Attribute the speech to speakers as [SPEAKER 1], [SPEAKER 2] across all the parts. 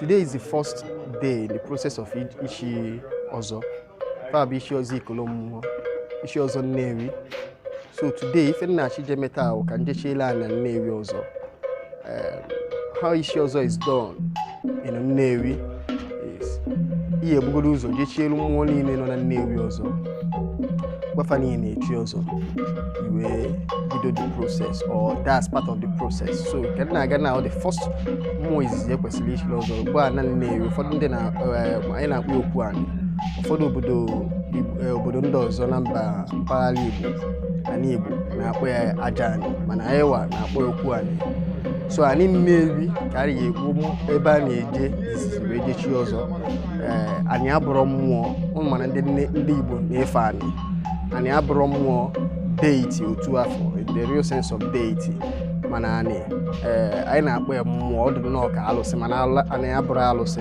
[SPEAKER 1] Today is the first day in the process of Ichi Ozo. Fab Ichi Ozo Ikolomuwo, Ichi Ozo Nnewi, so today ife m na-achọ ije me taa bụ ka m jechiele ana nnewi ọzọ Em, how ichi ọzọ is done in nnewi is i ya-ebugodo ụzọ jechielu mmụọ niile nọ na nnewi ọzọ gwa fa niile na-echi ọzọ i wee bido the process or that's part of the process so ka m na-aga na the first mmụọ izizi e kwesịrị ichiri ọzọ bụ ana nnewi ụfọdụ ndị na eh, anyị na-akpọ ya okwu anị ụfọdụ obodo Igbo- eh, obodo ndị ọzọ na mba mpaghara Igbo ana Igbo na-akpọ ya aja anị mana anyị wa na-akpọ okwu anị so anị Nnewi ka a ga-ekwu ebe a na-eje izizi wee jechi ọzọ ee anị abụrụ mmụọ unu ma na ndị Igbo na-efe anị anị abụrọ mmụọ deity otu afụ the real sense of deity mana anị ee anyị na-akpọ ya mmụọ ọ dị nnọọ ka alụsị mana anị abụrọ alụsị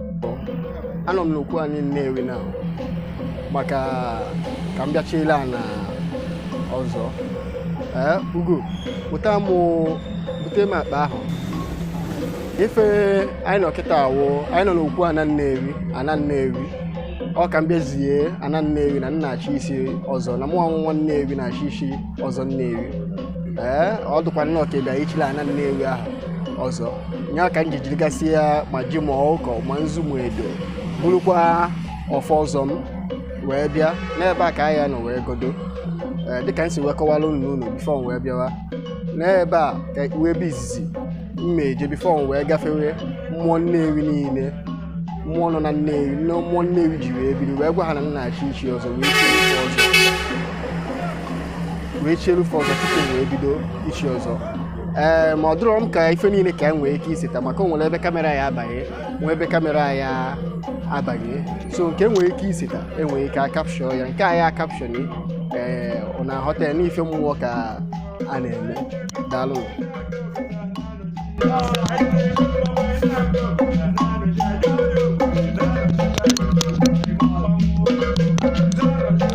[SPEAKER 1] anọ m n'okwu anị Nnewi na maka ka m bịa chiele ana ọzọ ee ugo buta m bute m akpa ahụ ife anyị nọ kịta a wụ anyị nọ n'okwu ana Nnewi ana Nnewi ọ ka m bịa zie ana Nnewi na m na-achọ ichi ọzọ na mụnwa nwa Nnewi na-achọ ichi ọzọ Nnewi ee ọ dụkwa nnọọ ka ị bịa ichile ana Nnewi ahụ ọzọ ya ka m ji jirigasịa ma ji ma ọkụkọ ma nzu ma edo burukwa ọfọ ọzọ m wee bịa n'ebe a ka a ya-anọ wee godo Ee, dịka m si wee kọwara unu n'ụlọ before m wee bịawa n'ebe a ka ọ wụ ebe izizi m ya-eje before m wee gafewe mmụọ nnewi niile mmụọ nọ na nnewi nne mmụọ nnewi ji wee biri wee gwa ha na m na-achọ ichi ọzọ wee chie fa ọzọ wee chieru fa ọzọ tupu m wee bido ichi ọzọ ee ma ọ dụrọ m ka ife niile ka e nwee ike iseta maka o nwere ebe kamera ya abanye nwee ebe kamera ya abanye so nke e nwere ike iseta e nwere ike icapture ya nke a ya-acapture ee unu aghọta ya na ife mmụọ ka a na-eme daalụ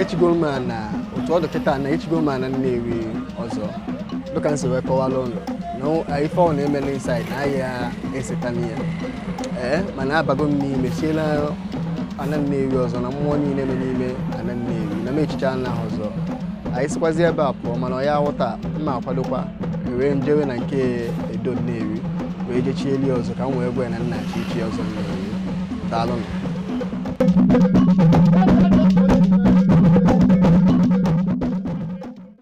[SPEAKER 1] echigo m ana otu ọ dị kịta na echigo m ana Nnewi ọzọ dịka m si wee kọwara unu na ife a na-eme n'inside na a ya-eseta m ya ee mana abago m n'ime chiele ana Nnewi ọzọ na mmụọ niile nọ n'ime ana Nnewi na m echichaa ana ahụ ọzọ anyị sikwazi ebe a pụọ mana unu ya-aghọta m akwadokwa wee jewe na nke Edo Nnewi wee jechieli ọzọ ka m wee gwa ya na m na-achọ ichi ọzọ nna ya daalụ nụ.